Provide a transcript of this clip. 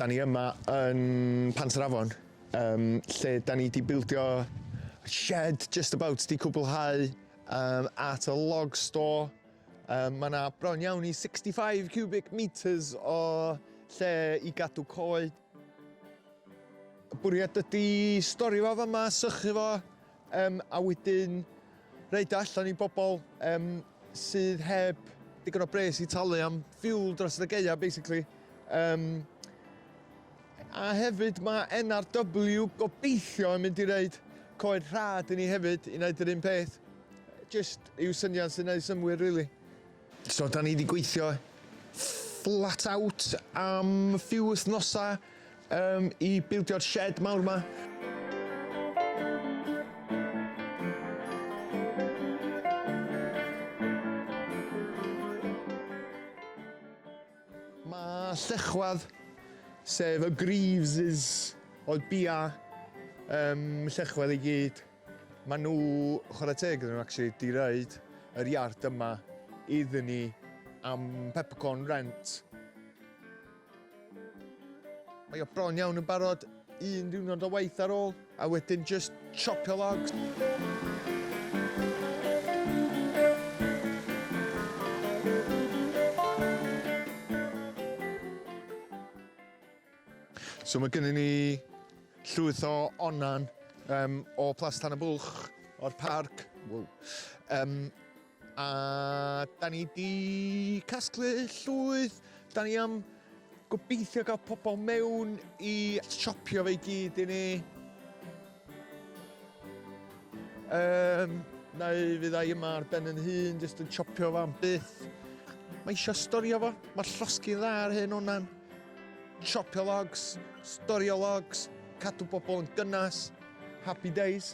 Da ni yma yn Pantrafon, um, lle da ni wedi bildio shed just about di cwblhau um, at y log store Mae yna bron iawn i 65 cubic metres o lle i gadw coed. Y bwriad ydy stori fo fama, sychu fo, um, a wedyn roed allan i bobl um, sydd heb digon o bres i talu am fuel dros y geia, basically. Um, a hefyd mae NRW gobeithio yn mynd i roed coed rhad i ni hefyd i wneud yr un peth. Jyst yw syniad sy'n neud synnwyr rili. So da ni di gweithio flat out am few wythnosa um, i bildio'r shed mawr ma. Mae llechwad, sef y greaves oedd bia um, llechwedd i gyd. Maen nhw, chwarae teg iddyn nhw actually, 'di roed yr iard yma iddyn ni am peppercorn rent. Mae o bron iawn yn barod, un diwrnod o waith ar ôl, a wedyn just chopio logs. So mae gennym ni llwyth o onan um, o Plas Tan y Bwlch, o'r parc. Wow. Um, a da ni di casglu llwyth, da ni am gobeithio gael pobl mewn i siopio fe i gyd i ni. Yym, neu fydda i yma ar ben yn hun, jyst yn chopio fo am byth. Mae eisiau storio fo, mae llosgi'n dda ar hyn o'na'n. Chopio logs, storio logs, cadw bobl yn gynnes. Happy days.